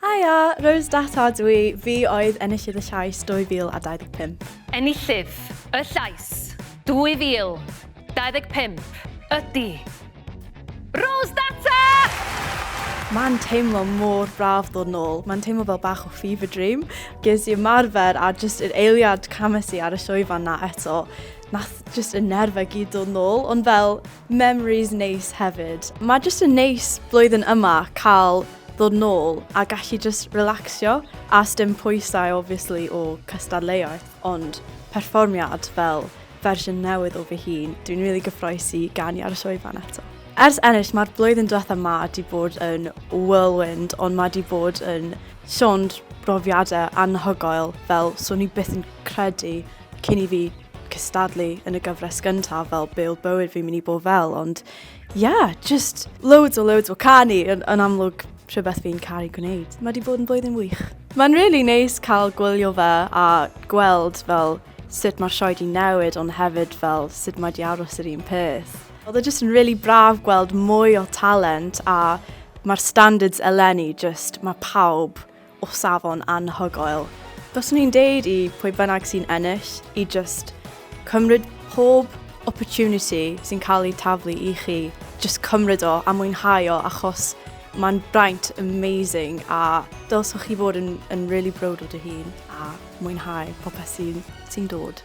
Haia, Rose Data ydw i, fi oedd enillydd y llais 2025. Enillydd y llais 2025 ydy Rose Data! Mae'n teimlo mor braf ddod nôl, mae'n teimlo fel bach o fever dream. Ges i ymarfer a jyst yr eiliad cames i ar y llwyfan na eto, nath jyst y nerfau gyd dod nôl, ond fel memories neis hefyd. Mae jyst yn neis blwyddyn yma cael ddod nôl a gallu jyst relaxio a sdim pwysau obviously o cystadleuaeth ond perfformiad fel fersiwn newydd o fy hun. Dwi'n rili gyffroes i ganu ar y sioe fan eto. Ers ennill mae'r blwyddyn diwetha 'ma 'di bod yn whirlwind ond mae 'di bod yn llond brofiadau anhygoel fel swn i byth yn credu cyn i fi cystadlu yn y gyfres gyntaf fel be' o'dd bywyd fi'n mynd i bod fel ond Ia, just loads o loads o canu yn, yn amlwg rhywbeth fi'n caru gwneud. Mae wedi bod yn blwyddyn wych. Mae'n really neis cael gwylio fe a gweld fel sut mae'r sioe di newid ond hefyd fel sut mae di aros yr un peth. Oedd e just yn really braf gweld mwy o talent a mae'r standards eleni just mae pawb o safon anhygoel. Fyswn i'n deud i pwy bynnag sy'n ennill i just cymryd pob opportunity sy'n cael ei taflu i chi. Just cymryd o a mwynhau o achos mae'n braint amazing a dylswch chi fod yn, yn really brod o dy hun a mwynhau popeth sy'n sy dod.